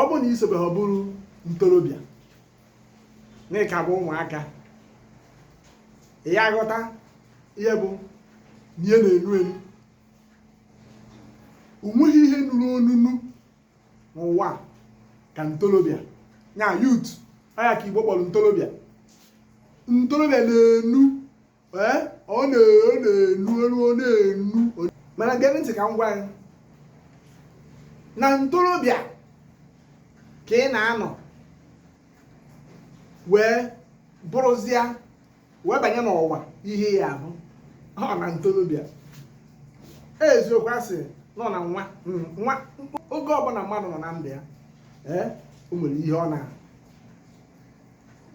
ọ bụrụ na i sobe ha bụrụ ntorobịa na ị ka bụ ụmụaka ị ya-aghọta ihe bụ ihe na-enu enu onweghị ihe nuru onunu n'ụwa ka ntorobịa ya youth ọ ya ka igbo kpọrọ ntorobịa ntorobịa na-enu ee ọ na-enu enu ọ na-enu mana gee ntị ka m gwa gị na ntorobịa ka ị na-anọ wee bụrụzịa wee banye n'ụwa ihe ị ya-ahụ ọ na ntorobịa eziokwu asị nọ na nwa hmm, nwa oge ọbụla mmadụ nọ na ndụ ya ee o nwere ihe ọ na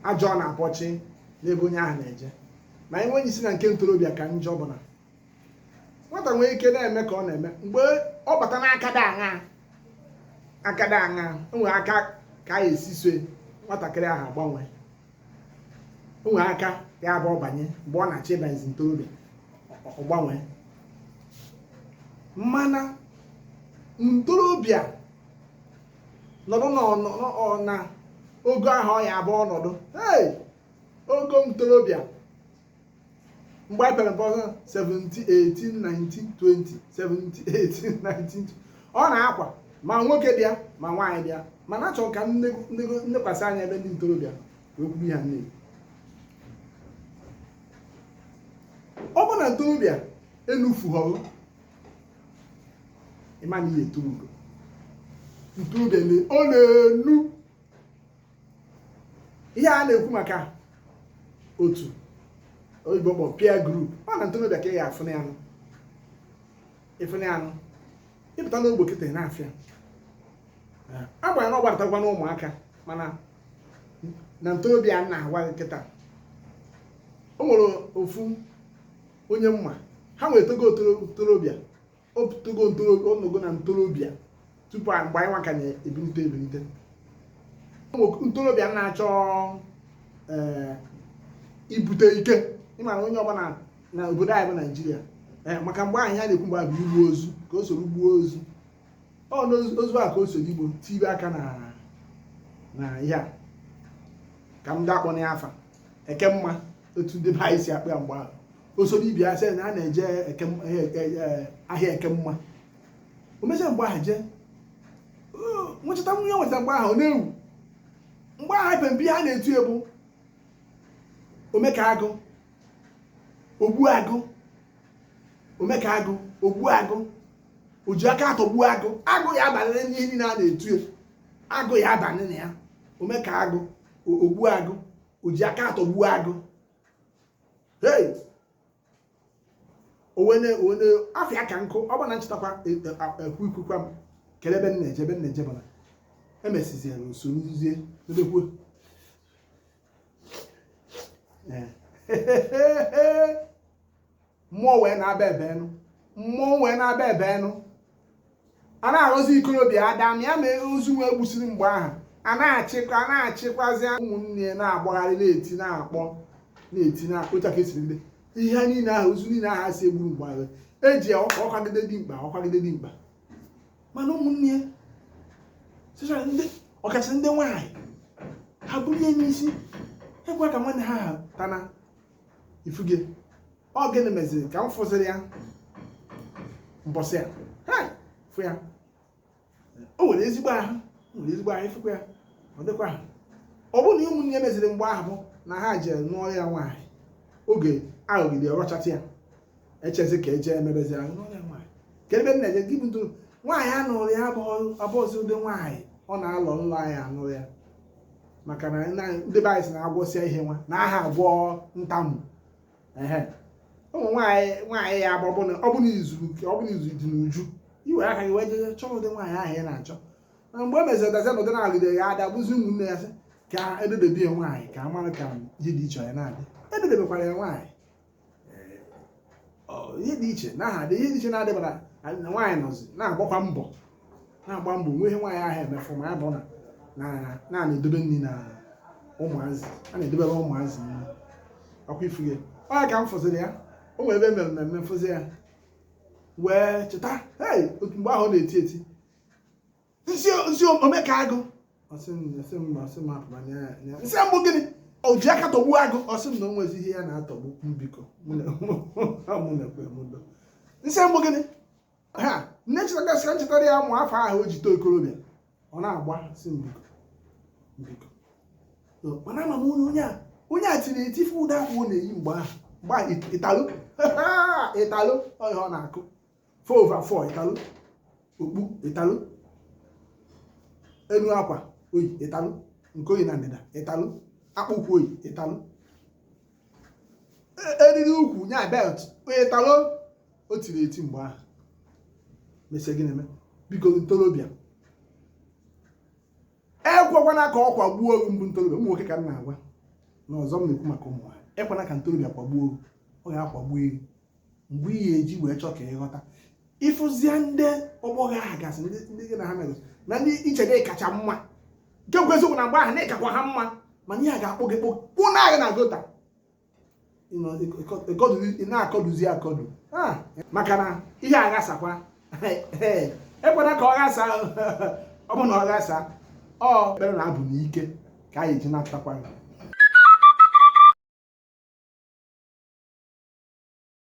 ajọ ọ na-abọchi n'ebe onye ahụ na-eje ma anyị nwenye isi na nke ntorobịa ka njọ bụ na nwata nwee ike na-eme ka ọ na-eme mgbe ọ bata n'akada aṅa akada aṅa o nwere aka ka e si eso nwatakịrị ahụ agbanwe o nwere aka ya bụ ọ banye mgbe ọ na-achọ ịbanyezi ntorobịa ọ gbanwee mana ntorobịa nọdụ na ogo ahụ ọ ya abụ ọnọdụ hey ogo ntorobịa mgbe a pere mpe 17 18 19 20 17 18 19 ọ na-akwa ma nwoke bịa ma nwaanyị bịa mana achọrọ m ka m nekwasị anya ebe ndị ntorobịa wee kwuru ya nne ọ bụ na ntorobịa enufughọrọ ị ma na ihe eto ugo ntu ugo ọ na-enu ihe a na-ekwu maka otu oyibo kpọ peer group ọ na ntorobịa ka ị ga-afụ na anụ ịfụ na anụ ịpụta n'ogbo kịta na-afịa agbanyere ọ gbadatakwa n'ụmụaka mana na ntorobịa na-agwa gị kịta o nwere ofu onye m ma ha nwere togo ntorobịa o togo onogo na ntorobịa tupu mgbe anyị nwaka na-ebilite ebilite ntorobịa na-achọ eh, ibute ike ịmara onye ọ bụ na obodo anyị bụ naijiria eh, maka mgbe ahụ a na-ekwu mgbe bụ igbu ozu ka o soro gbuo ozu ọ n'ozu a ka o soro igbo tibe aka na ihe a ka m ga-akpọ n'afa eke mma otu ndị be anyị si akpa ya mgbe ahụ o soro ibe ya sị na a na-eje ahịa eke mma o mechaa mgbe ahụ jee nwechata nwunye nweta mgbe ahụ ọ na-ewu mgbe ahụ ebe mpi ha na-etu ya bụ omeka agụ ogbu agụ omeka agụ ogbu agụ o ji aka atọgbu agụ agụ ya abalị n'ihe niile a na-etu agụ ya abalị na ya omeka agụ ogbu agụ o ji aka atọgbu agụ hey onwene onwene afịa ka nkụ ọ bụ na nchetakwa e, e, ekwu ikwukwa m kele ebe m na-eje ebe m na-eje bana emesizie na usoro nzuzie ebekwuo ee mmụọ wee na-aba ebe enu mmụọ wee na-aba ebe enu a na-arụzi ikorobịa ada ma ya ma ozu wee gbusiri mgbe ahụ a na-achịkwa a na-achịkwazi ụmụnne ya na-agbagharị na-eti na-akpọ na-eti na-akpọ otu aka esiri ndị ihe niile ahụ ozu niile ahụ si egburu mgbe ahụ eji ya ọkwa ọkwagide dimkpa ọkwagide dimkpa mana ụmụnne ya sịchara ndị ọkasị ndị nwaanyị ha bụrụ ihe n'isi ekwe ka nwanne ha ha tana ị fụge ọ gịnị meziri ka m fụziri ya mbọsị ya hai fụ ya o nwere ezigbo ahụ o nwere ezigbo ahụ ị fụkwa ya ọ dịkwa ahụ ọ bụrụ na ụmụnne ya meziri mgbe ahụ bụ na ha jere nụọrọ ya nwaanyị oge aghọgide ọrọchata ya echezi ka eje emebezi ahụ nụọrọ ya nwaanyị ka ebe m na-eje gị bụ na nwaanyị a nụụrụ ya abụghị ụdị nwaanyị ọ na-alọ nlọ a ya-anụrụ ya maka na ndị be anyị si na agwọsịa ihe nwa anaha agwọ ntamu ụmụ nwaanyị nwaanyị ya bụ ọbụna ọbụna izu ọbụna izu dị n'uju i were aka gị wee jeje chọọ ụdị nwaanyị ahụ ị na-achọ na mgbe e meziri dazi n'ụdị na-alụde ya ada bụzi ụmụnne ya sị ka ededebe ya nwaanyị ka a mara ka ihe dị iche ya na-adị ededebekwara ya nwaanyị ihe dị iche anaha adị ihe dị iche na-adịbara na nwaanyị nọzi na-agbakwa mbọ na-agba mbọ nwe ihe nwaanyị ahụ emefu ma ya bụ na na-edobe nri na ụmụazị a na-edobere ụmụazị nri ọkwa ị fụge ọ ka m fụziri ya o nwere ebe e mere mmemme m fụzi ya wee cheta hei otu mgbe ahụ ọ na-eti eti m sị m sị omeka agụ ọ sị m ọ sị m ọ sị m apụma nya nya m sị ọ bụ gịnị o ji aka atọgbu agụ ọ sị m na o nwezi ihe ya na-atọgbu m biko mụ na mụ na-ekwe m do m sị ọ bụ gịnị ha m na-echetagasị ka m chetara ya mụ afọ ahụ o ji too okorobịa ọ na-agba sị m biko biko So, mana ama m onye onye a onye a tiri etife ụda ahụ ọ na-eyi mgbe ahụ mgbe ahụ ịtalụ ịtalụ ọ ihe ọ na-akụ 4 over 4 Italo okpu Italo enu akwa o yi Italo nke o yi na ndịda Italo akpụkwụ o yi Italo e, eriri ukwu nya belt Italo o tiri eti mgbe ahụ mesie gịnị mee biko ntorobịa ekwekwana ka ọ kwagbuo unu bụ ntorobịa ụmụ nwoke ka m na-agwa na ọzọ m na-ekwu maka ụmụ nwaanyị ekwana ka ntorobịa kwagbuo unu ọ ga-akwagbu eri mgbe ị ga-eji wee chọọ ka ị ghọta ị fụzie ndị ọgbọ gị agasị ndị gị na ha megosị na ndị i che na ị kacha mma nke bụ eziokwu na mgbe ahụ na ị kakwa ha mma mana ihe a ga-akpụ gị kpụ kpụnaa gị na gutter na-akọduzi akọdu maka na ihe aghasakwa ekwena ka ọ ghasa ọ bụ na ọ ghasa ekpere na abụ n'ike ka anyị ji na-atakwa